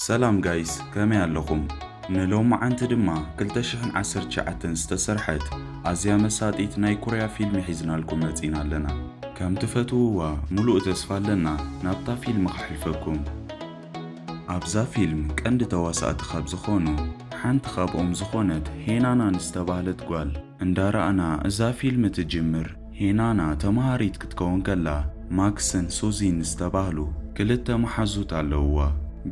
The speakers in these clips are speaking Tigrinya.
ሰላም ጋይስ ከመይ ኣለኹም ንሎምዓንቲ ድማ ክልተ ሽሕን ዓሰርተ ትሽዓተን ዝተሰርሐት ኣዝያ መሳጢት ናይ ኩርያ ፊልሚ ሒዝናልኩም መጺና ኣለና ከም ትፈትውዋ ሙሉእ ተስፋ ኣለና ናብታ ፊልሚ ከሕልፈኩም ኣብዛ ፊልም ቀንዲ ተዋሳእቲ ካብ ዝኾኑ ሓንቲ ካብኦም ዝኾነት ሄናና ንዝተባህለት ጓል እንዳራእና እዛ ፊልም ትጅምር። ሄናና ተማሃሪት ክትከውን ከላ ማክስን ሱዚን ዝተባህሉ ክልተ መሓዙት ኣለውዋ።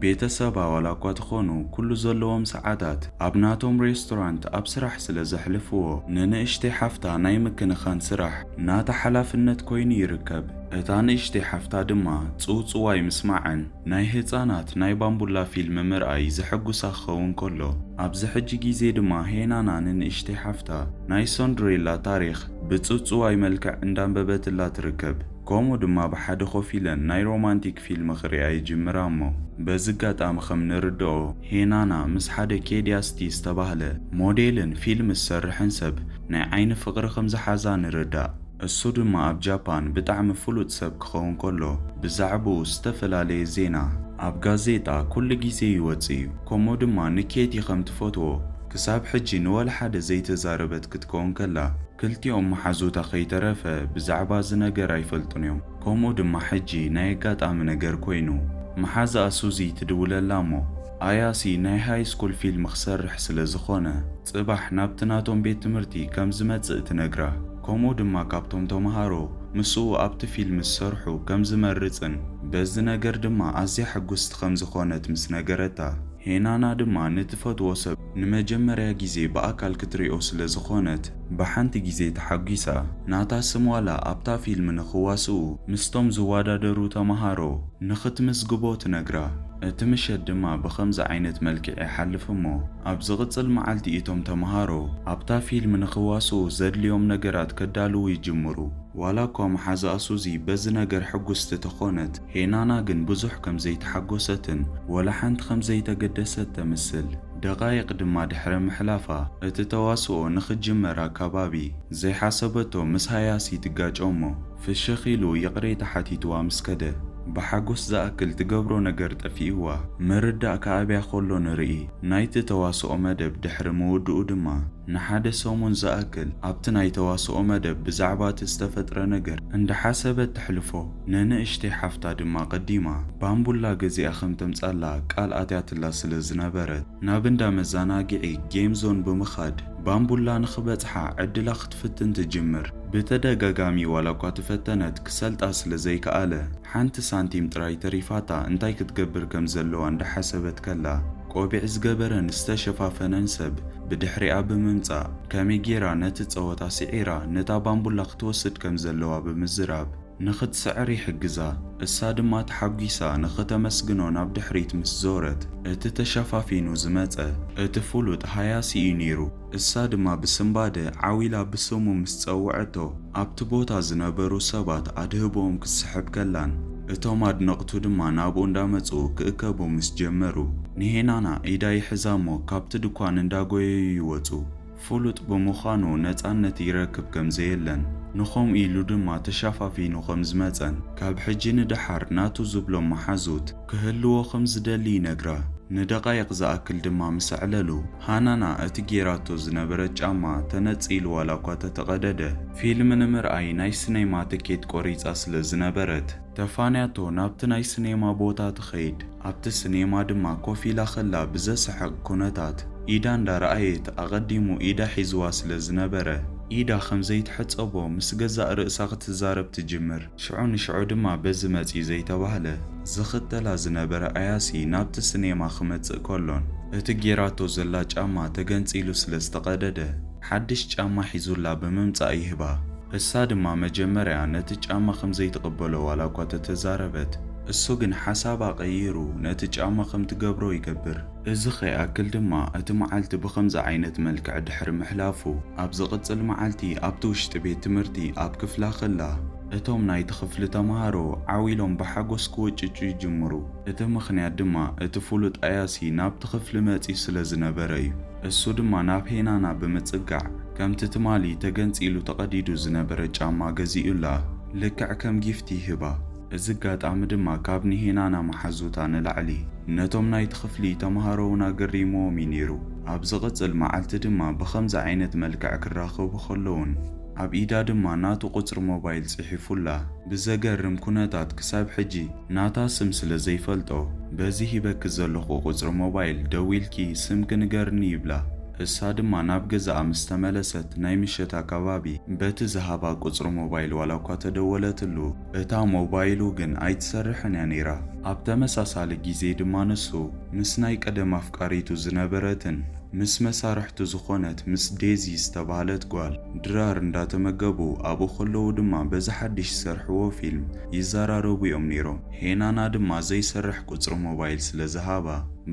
ቤተሰባ ዋላኳ ትኾኑ ኩሉ ዘለዎም ሰዓታት ኣብ ናቶም ሬስቶራንት ኣብ ስራሕ ስለ ዘሕልፍዎ ንንእሽተይ ሓፍታ ናይ ምክንኻን ስራሕ ናታ ሓላፍነት ኮይኑ ይርከብ። እታ ንእሽተይ ሓፍታ ድማ ጽውጽዋይ ምስማዕን ናይ ህጻናት ናይ ባምቡላ ፊልም ምርኣይ ዘሐጉሳ ክኸውን ከሎ፣ ኣብዚ ሕጂ ግዜ ድማ ሄናና ንንእሽተይ ሓፍታ ናይ ሰንድሬላ ታሪኽ ብጽውጽዋይ መልክዕ እንዳንበበትላ ትርከብ። ከምኡ ድማ ብሓደ ኮፍ ኢለን ናይ ሮማንቲክ ፊልም ክርእያ ይጅምራ እሞ በዚ ኣጋጣሚ ከም ንርድኦ ሄናና ምስ ሓደ ኬድያስቲ ዝተባህለ ሞዴልን ፊልም ዝሰርሕን ሰብ ናይ ዓይኒ ፍቕሪ ከም ዝሓዛ ንርዳእ። እሱ ድማ ኣብ ጃፓን ብጣዕሚ ፍሉጥ ሰብ ክኸውን ከሎ ብዛዕብኡ ዝተፈላለየ ዜና ኣብ ጋዜጣ ኩሉ ግዜ ይወጽእ እዩ ከምኡ ድማ ንኬቲ ከም ትፈትዎ ክሳብ ሕጂ ንወላሓደ ዘይተዛረበት ክትከውን ከላ ክልቲኦም ማሓዙታ ከይተረፈ ብዛዕባ እዚ ነገር ኣይፈልጡን እዮም ከምኡ ድማ ሕጂ ናይ ኣጋጣሚ ነገር ኮይኑ ማሓዛኣ ሱዚ ትድውለላ እሞ ኣያሲ ናይ ሃይ ስኩል ፊልም ክሰርሕ ስለ ዝኾነ ጽባሕ ናብቲ ናቶም ቤት ትምህርቲ ከም ዝመጽእ ትነግራ ከምኡ ድማ ካብቶም ተምሃሮ ምስኡ ኣብቲ ፊልም ዝሰርሑ ከም ዝመርጽን በዚ ነገር ድማ ኣዝያ ሕጉስቲ ከም ዝኾነት ምስ ነገረታ፣ ሄናና ድማ ንትፈትዎ ሰብ ንመጀመርያ ግዜ ብኣካል ክትሪኦ ስለ ዝኾነት ብሓንቲ ግዜ ተሓጒሳ። ናታ ስም ዋላ ኣብታ ፊልም ንኽዋስኡ ምስቶም ዝወዳደሩ ተምሃሮ ንኽትምዝግቦ ትነግራ። እቲ ምሸት ድማ ብኸምዚ ዓይነት መልክዕ ይሓልፍ እሞ ኣብ ዝቕጽል መዓልቲ እቶም ተመሃሮ ኣብታ ፊልም ንኽዋስኡ ዘድልዮም ነገራት ከዳልዉ ይጅምሩ። ዋላኳ መሓዝኣ ሱዚ በዚ ነገር ሕጉስቲ ተኾነት፣ ሄናና ግን ብዙሕ ከም ዘይተሓጎሰትን ወላ ሓንቲ ከም ዘይተገደሰት ተምስል። ደቓይቕ ድማ ድሕሪ ምሕላፋ እቲ ተዋስኦ ንኽጅመር ኣካባቢ ዘይሓሰበቶ ምስ ሃያሲ ትጋጮ እሞ፣ ፍሽኽ ኢሉ ይቕሬታ ሓቲትዋ ምስ ከደ፣ ብሓጎስ ዝኣክል ትገብሮ ነገር ጠፊእዋ፣ ምርዳእ ክኣብያ ከሎ ንርኢ። ናይቲ ተዋስኦ መደብ ድሕሪ ምውድኡ ድማ፣ ንሓደ ሰሙን ዝኣክል ኣብቲ ናይ ተዋስኦ መደብ ብዛዕባ እቲ ዝተፈጥረ ነገር እንዳሓሰበት ተሕልፎ። ንንእሽተይ ሓፍታ ድማ ቀዲማ ባምቡላ ገዚኣ ከም ተምጻላ ቃል ኣትያትላ ስለ ዝነበረት፣ ናብ እንዳ መዛናግዒ፣ ጌም ዞን፣ ብምኻድ ባምቡላ ንኽበጽሓ ዕድላ ክትፍትን ትጅምር። ብተደጋጋሚ ዋላኳ ተፈተነት ክሰልጣ ስለ ዘይከኣለ ሓንቲ ሳንቲም ጥራይ ተሪፋታ እንታይ ክትገብር ከም ዘለዋ እንዳሓሰበት ከላ ቆቢዕ ዝገበረን ዝተሸፋፈነን ሰብ ብድሕሪኣ ብምምጻእ ከመይ ጌራ ነቲ ጸወታ ሲዒራ ነታ ባምቡላ ክትወስድ ከም ዘለዋ ብምዝራብ ንኽትስዕር ይሕግዛ፣ እሳ ድማ ተሓጒሳ ንኽተመስግኖ ናብ ድሕሪት ምስ ዞረት፣ እቲ ተሸፋፊኑ ዝመጸ እቲ ፍሉጥ ሃያሲ እዩ ነይሩ። እሳ ድማ ብስንባደ ዓው ኢላ ብስሙ ምስ ጸውዐቶ፣ ኣብቲ ቦታ ዝነበሩ ሰባት ኣድህቦኦም ክትስሕብ ከላን እቶም ኣድነቕቱ ድማ ናብኡ እንዳመጹ ክእከቡ ምስ ጀመሩ፣ ንሄናና ኢዳ ይሕዛ እሞ ካብቲ ድኳን እንዳጎየዩ ይወጹ። ፍሉጥ ብምዃኑ ነጻነት ይረክብ ከም ዘየለን ንኸምኡ ኢሉ ድማ ተሸፋፊኑ ከም ዝመጸን ካብ ሕጂ ንደሓር ናቱ ዝብሎም መሓዙት ክህልዎ ከም ዝደሊ ይነግራ። ንደቓይቕ ዝኣክል ድማ ምስ ኣዕለሉ ሃናና እቲ ጌራቶ ዝነበረት ጫማ ተነጺሉ ዋላኳ ተተቐደደ ፊልም ንምርኣይ ናይ ስነይማ ትኬት ቆሪጻ ስለ ዝነበረት ተፋንያቶ ናብቲ ናይ ስኔማ ቦታ ትኸይድ። ኣብቲ ስኔማ ድማ ኮፍ ኢላ ከላ ብዘስሕቕ ኩነታት ኢዳ እንዳረኣየት ኣቐዲሙ ኢዳ ሒዝዋ ስለ ዝነበረ ኢዳ ከም ዘይትሕጸቦ ምስ ገዛእ ርእሳ ክትዛረብ ትጅምር። ሽዑ ንሽዑ ድማ በዚ መጺ ዘይተባህለ ዝኽተላ ዝነበረ ኣያሲ ናብቲ ስኔማ ክመጽእ ከሎን እቲ ጌራቶ ዘላ ጫማ ተገንጺሉ ስለ ዝተቐደደ፣ ሓድሽ ጫማ ሒዙላ ብምምጻእ ይህባ። እሳ ድማ መጀመርያ ነቲ ጫማ ከም ዘይትቕበሎ ዋላ እኳ ተተዛረበት፣ እሱ ግን ሓሳባ ቀይሩ ነቲ ጫማ ከም ትገብሮ ይገብር። እዚ ከይኣክል ድማ እቲ መዓልቲ ብኸምዚ ዓይነት መልክዕ ድሕሪ ምሕላፉ፣ ኣብ ዝቕጽል መዓልቲ ኣብቲ ውሽጢ ቤት ትምህርቲ ኣብ ክፍላ ከላ፣ እቶም ናይቲ ክፍሊ ተመሃሮ ዓው ኢሎም ብሓጎስ ክውጭጩ ይጅምሩ። እቲ ምኽንያት ድማ እቲ ፍሉጥ ኣያሲ ናብቲ ክፍሊ መጺኡ ስለ ዝነበረ እዩ። እሱ ድማ ናብ ሄናና ብምጽጋዕ ከምቲ ትማሊ ተገንጺሉ ተቐዲዱ ዝነበረ ጫማ ገዚኡላ ልክዕ ከም ጊፍት ይህባ። እዚ ኣጋጣሚ ድማ ካብ ንሄናና መሓዙታ ንላዕሊ ነቶም ናይቲ ክፍሊ ተመሃሮ'ውን ኣገሪምዎም እዩ ነይሩ። ኣብ ዝቕጽል መዓልቲ ድማ ብኸምዚ ዓይነት መልክዕ ክራኸቡ ከለዉን፣ ኣብ ኢዳ ድማ ናቱ ቁጽሪ ሞባይል ጽሒፉላ። ብዘገርም ኩነታት ክሳብ ሕጂ ናታ ስም ስለ ዘይፈልጦ በዚ ሂበኪ ዘለኹ ቁጽሪ ሞባይል ደዊልኪ ስምኪ ንገርኒ ይብላ። እሳ ድማ ናብ ገዛኣ ምስ ተመለሰት ናይ ምሸት ኣካባቢ በቲ ዝሃባ ቁጽሪ ሞባይል ዋላኳ ተደወለትሉ እታ ሞባይሉ ግን ኣይትሰርሕን እያ ነይራ። ኣብ ተመሳሳሊ ግዜ ድማ ንሱ ምስ ናይ ቀደም ኣፍቃሪቱ ዝነበረትን ምስ መሳርሕቱ ዝኾነት ምስ ዴዚ ዝተባህለት ጓል ድራር እንዳተመገቡ ኣብኡ ከለዉ ድማ በዚ ሓድሽ ዝሰርሕዎ ፊልም ይዘራረቡ እዮም ነይሮም። ሄናና ድማ ዘይሰርሕ ቁጽሪ ሞባይል ስለ ዝሃባ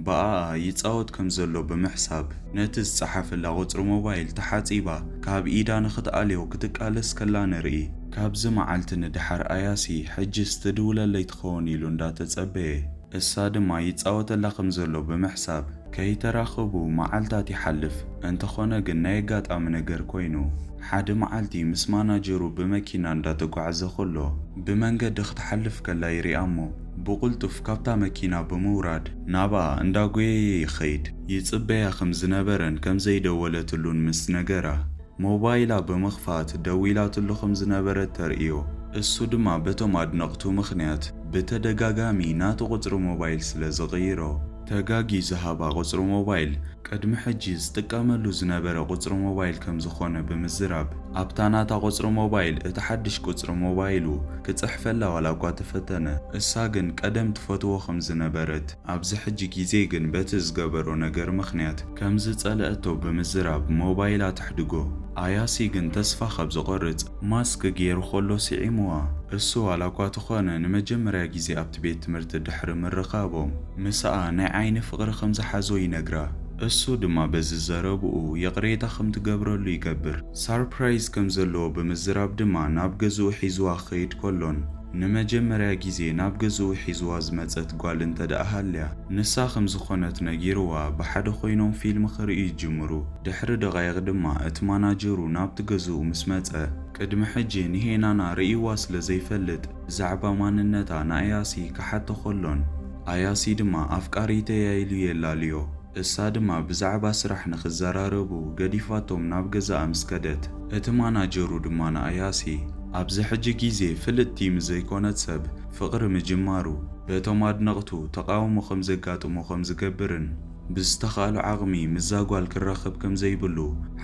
ብኣኣ ይጻወት ከም ዘሎ ብምሕሳብ ነቲ ዝጸሓፈላ ቁጽሪ ሞባይል ተሓጺባ ካብ ኢዳ ንኽትኣልዮ ክትቃለስ ከላ ንርኢ። ካብዚ መዓልቲ ንደሓር ኣያሲ ሕጅስ ትድውለለይ ትኸውን ኢሉ እንዳተጸበየ እሳ ድማ ይጻወተላ ከም ዘሎ ብምሕሳብ ከይተራኸቡ መዓልታት ይሓልፍ፣ እንተኾነ ግን ናይ ኣጋጣሚ ነገር ኮይኑ፣ ሓደ መዓልቲ ምስ ማናጀሩ ብመኪና እንዳተጓዕዘ ከሎ ብመንገዲ ክትሓልፍ ከላ ይሪኣ'ሞ ብቕልጡፍ ካብታ መኪና ብምውራድ ናብኣ እንዳጎየየ ይኸይድ፣ ይጽበያ ከም ዝነበረን ከም ዘይደወለትሉን ምስ ነገራ ሞባይላ ብምኽፋት ደዊላትሉ ከም ዝነበረት ተርእዮ፣ እሱ ድማ በቶም ኣድነቕቱ ምኽንያት ብተደጋጋሚ ናቱ ቁጽሪ ሞባይል ስለ ዝቕይሮ፣ ተጋጊ ዝሃባ ቁጽሪ ሞባይል ቅድሚ ሕጂ ዝጥቀመሉ ዝነበረ ቁጽሪ ሞባይል ከምዝኾነ ብምዝራብ ኣብታ ናታ ቁጽሪ ሞባይል እቲ ሓድሽ ቁጽሪ ሞባይሉ ክጽሕፈላ ዋላኳ ተፈተነ እሳ ግን ቀደም ትፈትዎ ከምዝነበረት ኣብዚ ሕጂ ግዜ ግን በቲ ዝገበሮ ነገር ምኽንያት ከምዝጸለኣቶ ብምዝራብ ሞባይላ ተሕድጎ ኣያሲ ግን ተስፋ ካብ ዝቆርጽ ማስክ ገይሩ ከሎ ስዒሙዋ። እሱ ዋላኳ ተኾነ ንመጀመርያ ግዜ ኣብቲ ቤት ትምህርቲ ድሕሪ ምርኻቦም ምስኣ ናይ ዓይኒ ፍቕሪ ከም ዝሓዞ ይነግራ። እሱ ድማ በዚ ዘረብኡ ይቕሬታ ከም ትገብረሉ ይገብር። ሳርፕራይዝ ከም ዘለዎ ብምዝራብ ድማ ናብ ገዝኡ ሒዙዋ ክኸይድ ከሎን ንመጀመርያ ግዜ ናብ ገዝኡ ሒዙዋ ዝመጸት ጓል እንተድኣ ሃልያ ንሳ ከም ዝኾነት ነጊሩዋ ብሓደ ኮይኖም ፊልም ክርእዩ ይጅምሩ። ድሕሪ ደቓይቕ ድማ እቲ ማናጀሩ ናብቲ ገዝኡ ምስ መጸ፣ ቅድሚ ሕጂ ንሄናና ርእይዋ ስለ ዘይፈልጥ፣ ብዛዕባ ማንነታ ንኣያሲ ክሓቶ ከሎን፣ ኣያሲ ድማ ኣፍቃሪተይ'ያ ኢሉ የላልዮ። እሳ ድማ ብዛዕባ ስራሕ ንኽዘራረቡ ገዲፋቶም ናብ ገዛኣ ምስ ከደት፣ እቲ ማናጀሩ ድማ ንኣያሲ፣ ኣብዚ ሕጂ ግዜ ፍልጥቲ ምስ ዘይኮነት ሰብ ፍቕሪ ምጅማሩ፣ በቶም ኣድነቕቱ ተቓውሞ ከም ዘጋጥሞ ከም ዝገብርን፣ ብዝተኻእሎ ዓቕሚ ምስዛ ጓል ክራኸብ ከም ዘይብሉ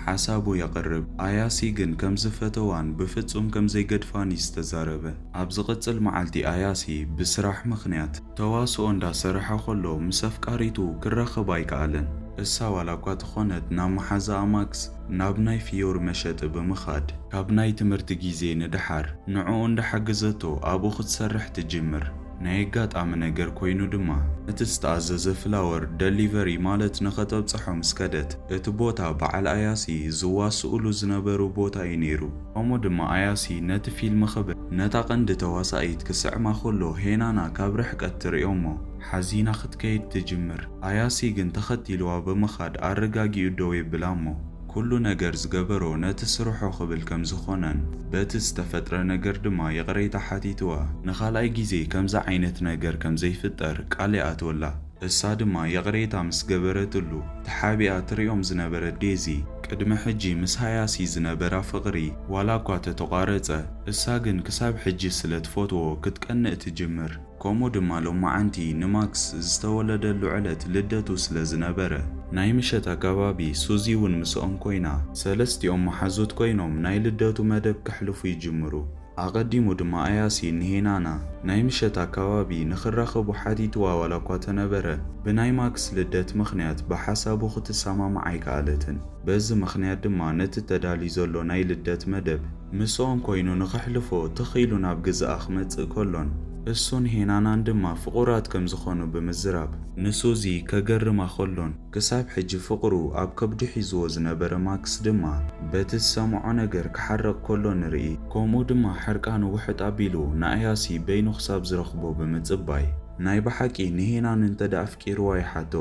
ሓሳቡ የቕርብ። ኣያሲ ግን ከም ዝፈተዋን ብፍጹም ከም ዘይገድፋን'ዩ ዝተዛረበ። ኣብ ዝቕጽል መዓልቲ ኣያሲ ብስራሕ ምኽንያት ተዋስኦ እንዳ ሰርሐ ከሎ ምስ ኣፍቃሪቱ ክራኸብ ኣይከኣለን። እሳ ዋላኳ ተኾነት ናብ መሓዛኣ ማክስ ናብ ናይ ፍዮሪ መሸጢ ብምኻድ ካብ ናይ ትምህርቲ ግዜ ንደሓር ንዕኡ እንዳሓገዘቶ ኣብኡ ክትሰርሕ ትጅምር። ናይ ኣጋጣሚ ነገር ኮይኑ ድማ፣ ነቲ ዝተኣዘዘ ፍላወር፣ ደሊቨሪ ማለት፣ ንኸተብጽሖ ምስ ከደት፣ እቲ ቦታ በዓል ኣያሲ ዝዋስኡሉ ዝነበሩ ቦታ እዩ ነይሩ። ከምኡ ድማ ኣያሲ ነቲ ፊልም ክብል ነታ ቀንዲ ተዋሳኢት ክስዕማ ከሎ ሄናና ካብ ርሕቀት ትርእዮ'ሞ ሓዚና ክትከይድ ትጅምር። ኣያሲ ግን ተኸቲሉዋ ብምኻድ ኣረጋጊኡ ደው የብላ'ሞ፣ ኩሉ ነገር ዝገበሮ ነቲ ስርሑ ክብል ከም ዝኾነን በቲ ዝተፈጥረ ነገር ድማ ይቕሬታ ሓቲትዋ ንኻልኣይ ግዜ ከምዚ ዓይነት ነገር ከም ዘይፍጠር ቃል ይኣትወላ። እሳ ድማ ይቕሬታ ምስ ገበረትሉ ተሓቢኣ ትሪኦም ዝነበረት ዴዚ ቅድሚ ሕጂ ምስ ሃያሲ ዝነበራ ፍቕሪ ዋላ እኳ ተተቋረጸ እሳ ግን ክሳብ ሕጂ ስለ ትፈትዎ ክትቀንእ ትጅምር። ከምኡ ድማ ሎማዓንቲ ንማክስ ዝተወለደሉ ዕለት ልደቱ ስለ ዝነበረ። ናይ ምሸት ኣጋባቢ ሱዚ ውን ምስኦም ኮይና ሰለስቲኦም መሓዙት ኮይኖም ናይ ልደቱ መደብ ከሕልፉ ይጅምሩ። ኣቐዲሙ ድማ ኣያሲ ንሄናና ናይ ምሸት ኣካባቢ ንክራኸቡ ሓቲትዋ ዋላኳ ተነበረ ብናይ ማክስ ልደት ምኽንያት ብሓሳቡ ክትሰማማዕ ኣይከኣለትን። በዚ ምኽንያት ድማ ነቲ ተዳልዩ ዘሎ ናይ ልደት መደብ። ምስኦም ኮይኑ ንኸሕልፎ ትኽ ኢሉ ናብ ግዝኣ ክመጽእ ከሎን እሱን ሄናናን ድማ ፍቑራት ከም ዝኾኑ ብምዝራብ። ንሱዚ ከገርማ ከሎን ክሳብ ሕጂ ፍቕሩ ኣብ ከብዱ ሒዝዎ ዝነበረ ማክስ ድማ በቲ ዝሰምዖ ነገር ክሓርቕ ከሎ ንርኢ። ከምኡ ድማ ሕርቃኑ ውሕጥ ኣቢሉ ንኣያሲ በይኑ ክሳብ ዝረኽቦ ብምጽባይ። ናይ ብሓቂ ንሄናን እንተድኣ ኣፍቂርዋ ይሓቶ።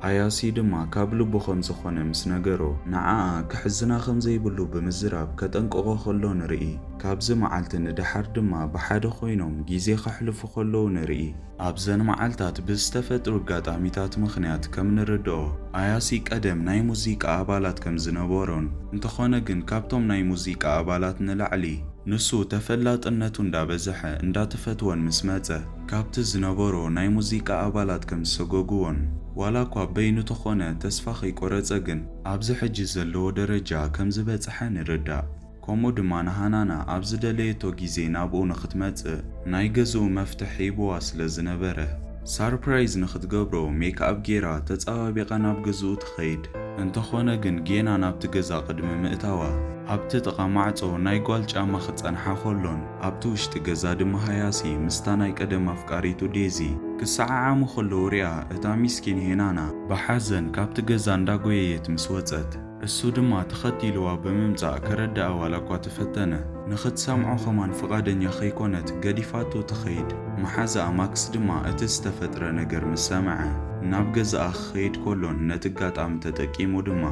ኣያሲ ድማ ካብ ልቡ ከም ዝኾነ ምስ ነገሮ፣ ንዓኣ ከሕዝና ከም ዘይብሉ ብምዝራብ ከጠንቅቖ ከሎ ንርኢ። ካብዚ መዓልቲ ንደሓር ድማ ብሓደ ኮይኖም ግዜ ከሕልፉ ከለዉ ንርኢ። ኣብዘን መዓልታት ብዝተፈጥሩ ኣጋጣሚታት ምኽንያት ከም ንርድኦ፣ ኣያሲ ቀደም ናይ ሙዚቃ ኣባላት ከም ዝነበሮን፣ እንተኾነ ግን ካብቶም ናይ ሙዚቃ ኣባላት ንላዕሊ ንሱ ተፈላጥነቱ እንዳበዘሐ እንዳተፈትወን ምስ መጸ፣ ካብቲ ዝነበሮ ናይ ሙዚቃ ኣባላት ከም ዝሰጎጉዎን ዋላኳ በይኑ ተኾነ ተስፋ ከይቆረጸ ግን ኣብዚ ሕጂ ዘለዎ ደረጃ ከም ዝበጸሐ ንርዳእ። ከምኡ ድማ ንሃናና ኣብ ዝደለየቶ ግዜ ናብኡ ንክትመጽእ ናይ ገዝኡ መፍትሕ ሂቡዋ ስለ ዝነበረ ሳርፕራይዝ ንክትገብሮ ሜክኣብ ጌራ ተጸባቢቃ ናብ ገዝኡ ትኸይድ። እንተኾነ ግን ጌና ናብቲ ገዛ ቅድሚ ምእታዋ ኣብቲ ጥቃ ማዕጾ ናይ ጓል ጫማ ክጸንሓ ከሎን ኣብቲ ውሽጢ ገዛ ድማ ሃያሲ ምስታ ናይ ቀደም ኣፍቃሪቱ ዴዚ ክሰዓዓሙ ከለዉ ሪኣ እታ ሚስኪን ሄናና ብሓዘን ካብቲ ገዛ እንዳጎየየት ምስ ወጸት እሱ ድማ ተኸቲልዋ ብምምጻእ ከረድኣ ዋላኳ ተፈተነ ንኽትሰምዖ ከማን ፍቓደኛ ከይኮነት ገዲፋቶ ትኸይድ መሓዝኣ ማክስ ድማ እቲ ዝተፈጥረ ነገር ምስ ሰምዐ ናብ ገዛኣ ክኸይድ ከሎን ነቲ ኣጋጣሚ ተጠቂሙ ድማ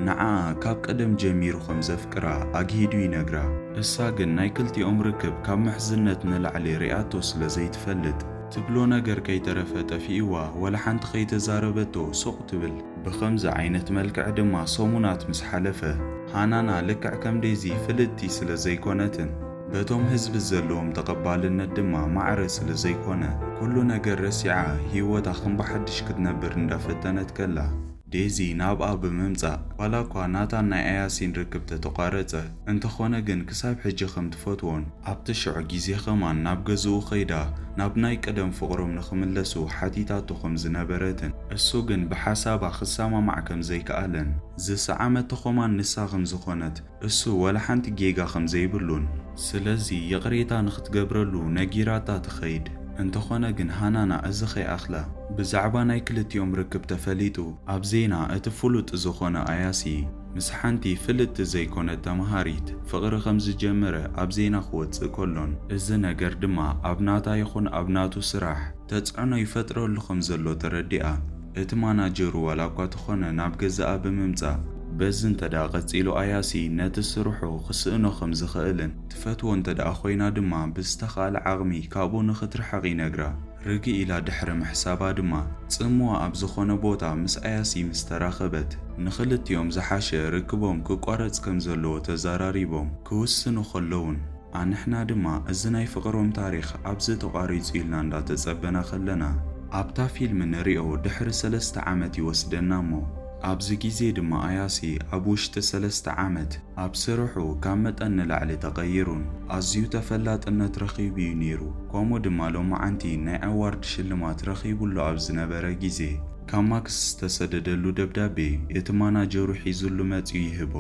ንዓኣ ካብ ቀደም ጀሚሩ ከም ፍቅራ ኣግሂዱ ይነግራ። እሳ ግን ናይ ክልቲኦም ርክብ ካብ ምሕዝነት ንላዕሊ ሪኣቶ ስለ ዘይትፈልጥ። ትብሎ ነገር ከይተረፈ ጠፊእዋ ወላ ሓንቲ ከይተዛረበቶ ሱቅ ትብል። ብከምዚ ዓይነት መልክዕ ድማ ሰሙናት ምስ ሓለፈ። ሃናና ልክዕ ከም ዴዚ ፍልጥቲ ስለ ዘይኮነትን በቶም ህዝቢ ዘለዎም ተቀባልነት ድማ ማዕረ ስለ ዘይኮነ ኩሉ ነገር ረሲዓ ሂወታ ከም ብሓድሽ ክትነብር እንዳፈተነት ከላ። ዴዚ ናብኣ ብምምጻእ፣ ዋላኳ ናታን ናይ ኣያሲን ርክብ ተተቋረጸ፣ እንተኾነ ግን ክሳብ ሕጂ ከም ትፈትዎን፣ ኣብቲ ሽዑ ግዜ ከማን ናብ ገዝኡ ከይዳ ናብ ናይ ቀደም ፍቕሮም ንኽምለሱ ሓቲታቶ ከም ዝነበረትን፣ እሱ ግን ብሓሳባ ክሰማማዕ ከም ዘይከኣለን፣ ዝሰዓመቶ ከማን ንሳ ከም ዝኾነት፣ እሱ ዋላ ሓንቲ ጌጋ ከም ዘይብሉን። ስለዚ ይቕሬታ ንኽትገብረሉ ነጊራታ ትኸይድ። እንተኾነ ግን ሃናና እዚ ከይኣኽለ ብዛዕባ ናይ ክልቲኦም ርክብ ተፈሊጡ ኣብ ዜና እቲ ፍሉጥ ዝኾነ ኣያሲ ምስ ሓንቲ ፍልጥቲ ዘይኮነት ተምሃሪት ፍቕሪ ከም ዝጀመረ ኣብ ዜና ክወጽእ ከሎን እዚ ነገር ድማ ኣብ ናታ ይኹን ኣብ ናቱ ስራሕ ተጽዕኖ ይፈጥረሉ ከም ዘሎ ተረዲኣ። እቲ ማናጀሩ ዋላ እኳ ተኾነ ናብ ገዛኣ ብምምጻእ፣ በዚ እንተድኣ ቀጺሉ ኣያሲ ነቲ ስርሑ ክስእኖ ከም ዝኽእልን ትፈትዎ እንተድኣ ኮይና ድማ ብዝተኻእለ ዓቕሚ ካብኡ ንኽትርሕቕ ይነግራ። ርግእ ኢላ ድሕሪ ምሕሳባ ድማ ጽምዋ ኣብ ዝኾነ ቦታ ምስ ኣያሲ ምስ ተራኸበት ንኽልቲኦም ዝሓሸ ርክቦም ክቋረጽ ከም ዘለዎ ተዛራሪቦም ክውስኑ ከለዉን፣ ኣንሕና ድማ እዚ ናይ ፍቅሮም ታሪኽ ኣብዚ ተቋሪጹ ኢልና እንዳ ተጸበና ከለና ኣብታ ፊልም ንሪኦ ድሕሪ ሰለስተ ዓመት ይወስደና እሞ ኣብዚ ግዜ ድማ ኣያሲ ኣብ ውሽጢ ሰለስተ ዓመት ኣብ ስርሑ ካብ መጠን ንላዕሊ ተቀይሩን ኣዝዩ ተፈላጥነት ረኺቡ እዩ ኔሩ ከምኡ ድማ ሎማዓንቲ ናይ ኣዋርድ ሽልማት ረኺቡ ኣሎ ኣብ ዝነበረ ግዜ ካብ ማክስ ዝተሰደደሉ ደብዳቤ እቲ ማናጀሩ ሒዙሉ መጺኡ ይህቦ።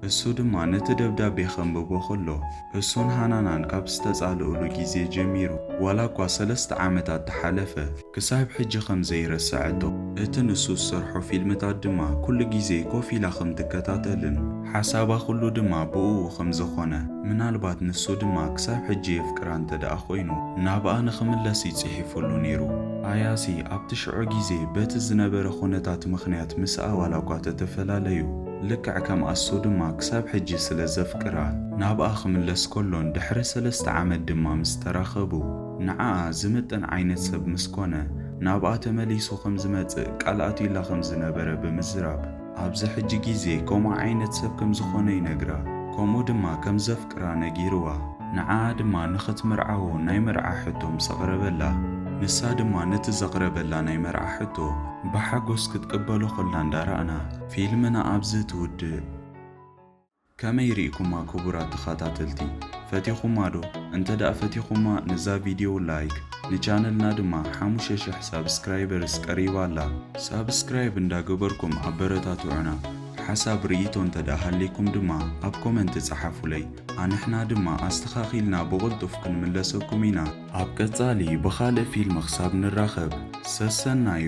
እሱ ድማ ነቲ ደብዳቤ ከንብቦ ከሎ፣ እሱን ሃናናን ካብ ዝተጻልኡሉ ግዜ ጀሚሩ ዋላ እኳ ሰለስተ ዓመታት ተሓለፈ፣ ክሳብ ሕጂ ከም ዘይረሰዐቶ፣ እቲ ንሱ ዝሰርሖ ፊልምታት ድማ ኩሉ ግዜ ኮፍ ኢላ ከም ትከታተልን፣ ሓሳባ ኩሉ ድማ ብእኡ ከም ዘኾነ፣ ምናልባት ንሱ ድማ ክሳብ ሕጂ የፍቅራ እንተ ደኣ ኮይኑ፣ ናብኣ ንኽምለስ እዩ ጽሒፉሉ ነይሩ። ኣያሲ ኣብቲ ሽዑ ግዜ በቲ ዝነበረ ኩነታት ምኽንያት ምስኣ ዋላኳ ተተፈላለዩ፣ ልክዕ ከም ኣሱ ድማ ክሳብ ሕጂ ስለ ዘፍቅራ፣ ናብኣ ክምለስ ከሎን ድሕሪ ሰለስተ ዓመት ድማ ምስ ተራኸቡ፣ ንዓኣ ዝምጥን ዓይነት ሰብ ምስ ኮነ፣ ናብኣ ተመሊሱ ከም ዝመጽእ ቃል ኣትዩላ ከም ዝነበረ ብምዝራብ፣ ኣብዚ ሕጂ ግዜ ከምኡ ዓይነት ሰብ ከም ዝኾነ ይነግራ ከምኡ ድማ ከም ዘፍቅራ ነጊርዋ ንዓኣ ድማ ንኽትምርዓዎ ናይ መርዓ ሕቶ ምስ ኣቕረበላ ንሳ ድማ ነቲ ዘቕረበላ ናይ መርዓ ሕቶ ብሓጎስ ክትቅበሎ ከላ እንዳ ራእና ፊልምና ኣብዚ ትውድእ። ከመይ ሪእኩማ ክቡራት ተኻታተልቲ ፈቲኹማ ዶ እንተ ፈቲኹማ ንዛ ቪድዮ ላይክ ንቻነልና ድማ ሓሙሽተ ሽሕ ሳብስክራይበርስ ቀሪባ ኣላ ሳብስክራይብ እንዳ ገበርኩም ኣበረታትዑና ሓሳብ ሪኢቶ እንተ ሃልይኩም ድማ ኣብ ኮመንት ጸሓፉለይ ኣንሕና ድማ ኣስተኻኺልና ብቕልጡፍ ክንምለሰኩም ኢና። ኣብ ቀጻሊ ብኻልእ ፊልም ክሳብ ንራኸብ ሰሰናዩ።